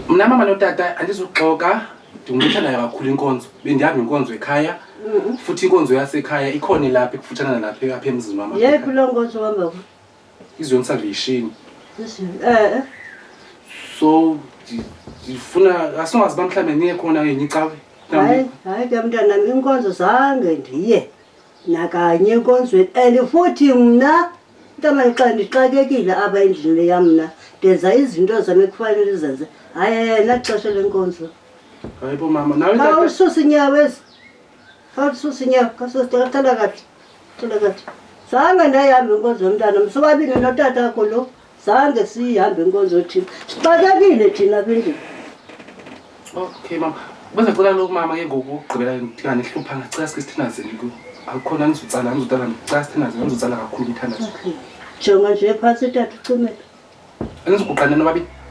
Mna mama notata andizuxoka ndingumthanayo kakhulu inkonzo bendihamba inkonzo ekhaya futhi inkonzo yasekhaya ikhona ilapha ikufutshana nalapha apha emzini wam yephi loo nkonzo wambao izion salvation eh, eh. so ndifuna asingazi uba mhlawumbi niye khona enye icawe hayi hayi ke mntanam inkonzo zange ndiye nakanye enkonzweni and futhi mna ntamani xa ndixakekile apha endlini leya mna ndenza izinto zam ekufanele zenze hayi yena xesha lenkonzo hayibo mama nawe tata- khawulisusa inyawo ezi khawulisusa inyawo khawususiqathela kahle qela kahle zange ndayihambe inkonzo yomntana msobabini notata akho lo zange siyihambe inkonzo yothina sixakekile thina bindini okay mama bese cela loku mama ke ngoku ugqibela ndingane hlupha ngacela sike sithandazeni ku akukhona angizotsala angizotsala ndicela sithandazeni angizotsala kakhulu umthandazo jonga nje phantsi tata ucimela andiziguqane nobabini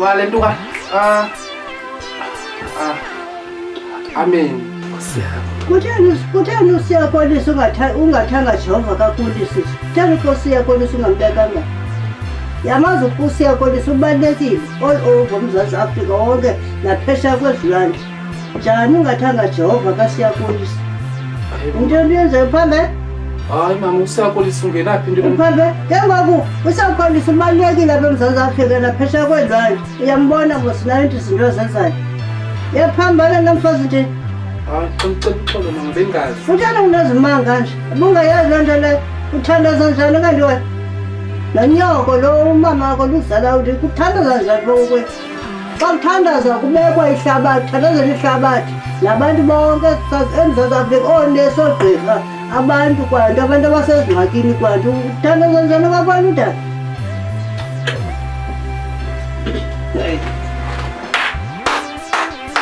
Wale nto ka. Ah. Ah. Amen. Kutheni kutheni usiyakonisa ungatha- ungathanga Jehova kakulisa kutheni ke usiyakonisa ungambekanga yamazi ukuba usiyakonisa ubalulekile all over umzantsi afrika wonke naphesha kwezilwandle chani ungatanga jehovha kasiyakulisa ndiyondiyenze uphambe hayi mama usakulisa ungenaphi nto uphambe ke ngoku usakulisa ubalulekile apha emzantsi afrika naphesha kwenzayo uyambona mosinayo nto izinto ezenzayo yaphambana namfazi nje hayi xixexolo mama bengazi uthanda unezimanga nje ubungayazi loo nto leyo uthandaza njani kanti wena nonyoko lo umama wakho luzala uthi kuthandaza njani lowo kwethu Xa kuthandaza kubekwa ihlabathi, kuthandazela ihlabathi nabantu bonke eMzantsi Afrika, oonesi, oogqirha, abantu kwanto, abantu abasezingxakini kwanto, kuthandaza njani kwabantu udala? Hey.